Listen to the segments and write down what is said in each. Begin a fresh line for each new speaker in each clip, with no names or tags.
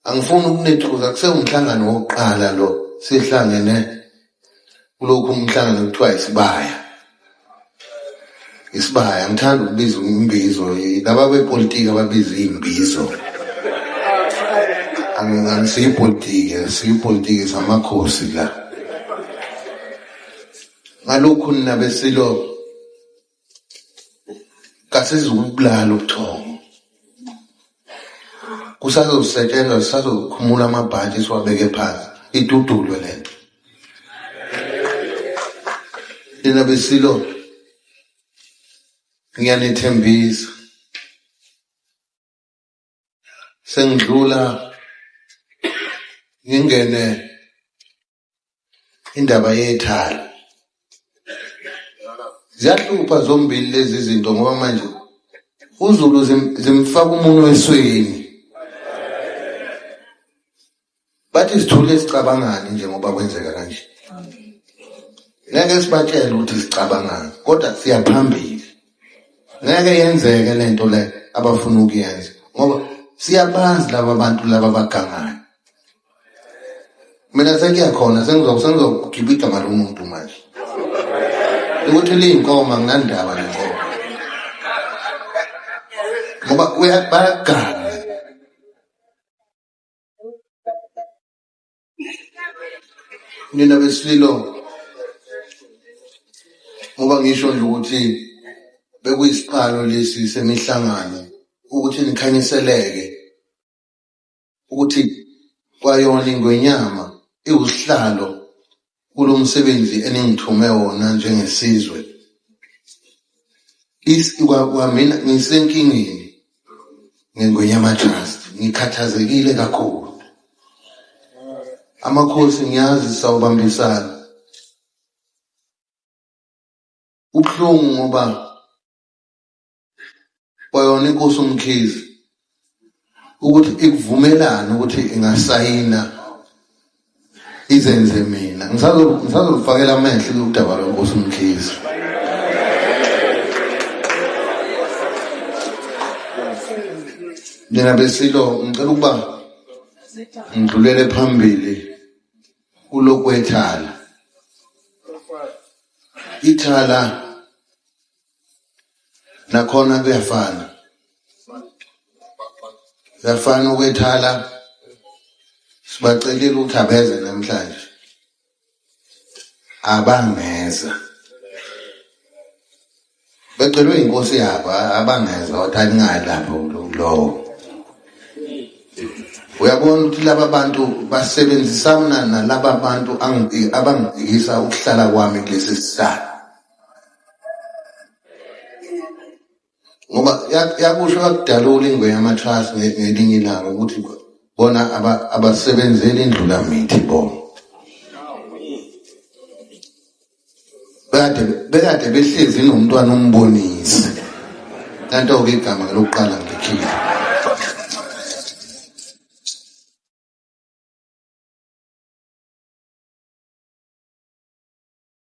angifuni ukunethuka kusewumhlangano wokuqala lo sihlangene kulokhu umhlangano kuthiwa isibaya isibaya ngithanda ukubiza imbizo laba bepolitiki ababiza iy'mbizo angisiyipolitiki siyipolitiki samakhosi la ngalokhu nina besilo kasizukubulala ubuthongo kusazosetshenzwa sisazokhumula amabhantshi siwabeke phansi idudulwe le nto nina besilo ngiyanethembisa sengidlula ngingene indaba yethalo ziyahlupha zombili lezi zinto ngoba manje uZulu zimfaka umuntu esweni bathi sithule sicabangani nje ngoba kwenzeka kanje ngeke sibatshele ukuthi sicabangani kodwa siyaphambili ngeke yenzeke lento le abafuna ukuyenza ngoba siyabazi laba bantu laba bagangayo mina sengiya khona sengizokugiba igama lomuntu manje ukuthi liyinkomo anginandaba nenkomo ngoba bayagana nina besililo ngoba ngisho nje ukuthi bekuyisiqalo lesi semihlangano ukuthi nikhanyiseleke ukuthi kwayona ingwenyama iwusihlalo kulo msebenzi eningithume wona njengesizwe kwamina ngisenkingeni ngengwenyama trust ngikhathazekile kakhulu amakhosi ngiyazi sawubambisana ubuhlungu ngoba kwayona inkosi umkhizi ukuthi ikuvumelana ukuthi ingasayina izenze mina ngisazolufakela amehlo kuludaba lwenkosi umkhizi nina besilo ngicela ukuba ngidlulele phambili kulokwethala ithala nakhona kuyafana kuyafana ukwethala sibacelile ukuthi abeze namhlanje abangeza becelwe inkosi yabo abangeza wathi aningalapho lowo uyabona ukuthi laba bantu basebenzisana nalaba bantu abangibhekisa ukuhlala kwami kulesi sihlalo ngoba yakusho yakudalula ingwe yamatrust ngelinye ilanga ukuthi bona abasebenzeli indlulamithi bona bekade bekade behlezi nomntwana umbonise kanti-ke igama lokuqala ngikhile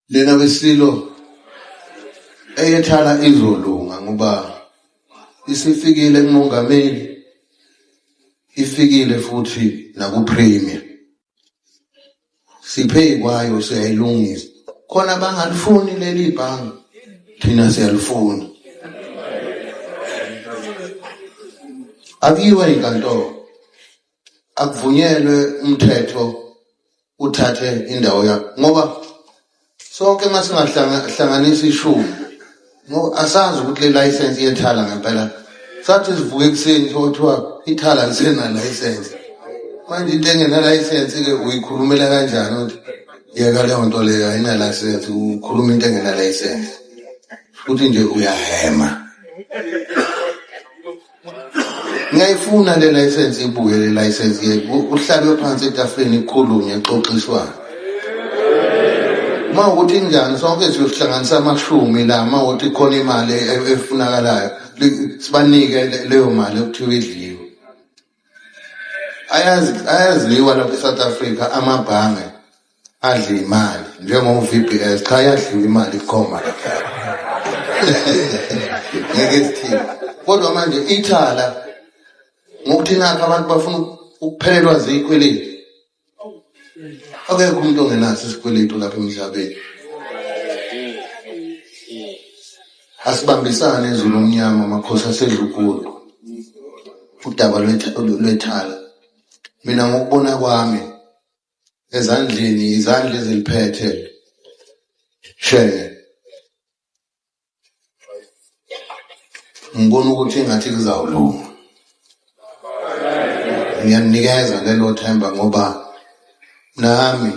lena wesililo eyethala izolunga ngoba isifikile kumongameli ifikile futhi nakupremier siphe kwayo siyayilungisa khona bangalifuni leli bhange thina siyalifuna Have you any control? akuvunyelwe umthetho uthathe indawo yakho ngoba sonke uma singahlanganisa ishumi ngoba asazi ukuthi le layisensi yethala ngempela sathi sivuka ekuseni sokuthiwa ithala lisenalayisensi manje into engenalayisensi-ke uyikhulumela kanjani ukuthi yeka leyo nto leyo ayinalayisensi ukhuluma into engenalayisensi futhi nje uyahema ngiyayifuna le license ibuye le license ke uhlabe phansi etafuleni ikhulume exoxiswana uma ukuthi njani sonke siyohlanganisa amashumi la uma ukuthi khona imali e, e, efunakalayo sibanike leyo mali okuthiwa idliwe ayazidliwa lapha e-south africa amabhange adla imali njengo-VBS cha yadliwa imali ikhoma lapha ngeke sithini kodwa manje ithala ngokuthi nakho abantu bafuna ukuphelelwa ziyikweleti akekho umuntu ongenaso isikweletu lapha emhlabeni asibambisane ezulu omnyama amakhosi asedlukulu udaba lwethala mina ngokubona kwami ezandleni izandla eziliphethe shenge ngibona ukuthi ngathi kuzawulunga ngiyaninikeza lelo themba ngoba nami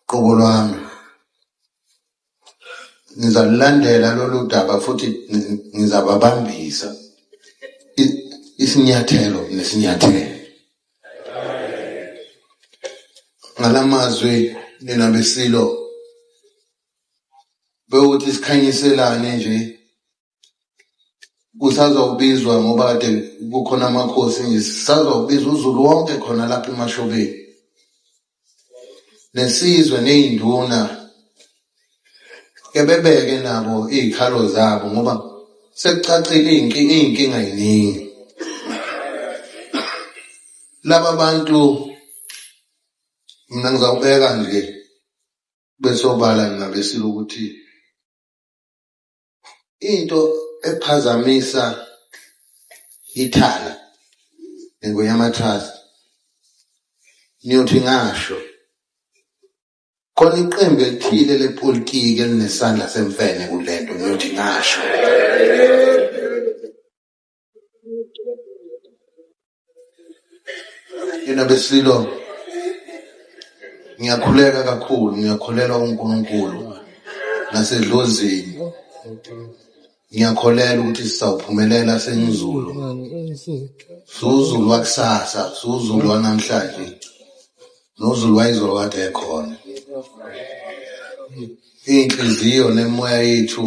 qobo lwami ngizalulandela lolu daba futhi ngizababambisa isinyathelo nesinyathelo ngalamazwi nina besilo bewuthi sikhanyiselane nje kusazokubizwa ngoba kade kukhona amakhosi nje sisazokubiza uzulu wonke khona lapha emashobeni nesizwe ney'nduna ke bebeke nabo iy'khalo zabo ngoba sekucacile iy'nkinga iy'nkinga yiningi laba bantu mina ngizawubeka nje besobala ngingabesile ukuthi into ephazamisa ithala nengoyamatrust niyothi ngasho khona iqembu elithile lepolitiki elinesandla semfene kulento ngiyothi ngasho yena besililo ngiyakhuleka kakhulu ngiyakholelwa uNkulunkulu nasedlozini ngiyakholelwa ukuthi sizawuphumelela sengizulu suzulu wakusasa suzulu wanamhlanje nozulu wayizolo kade ekhona iy'nhliziyo nemoya yethu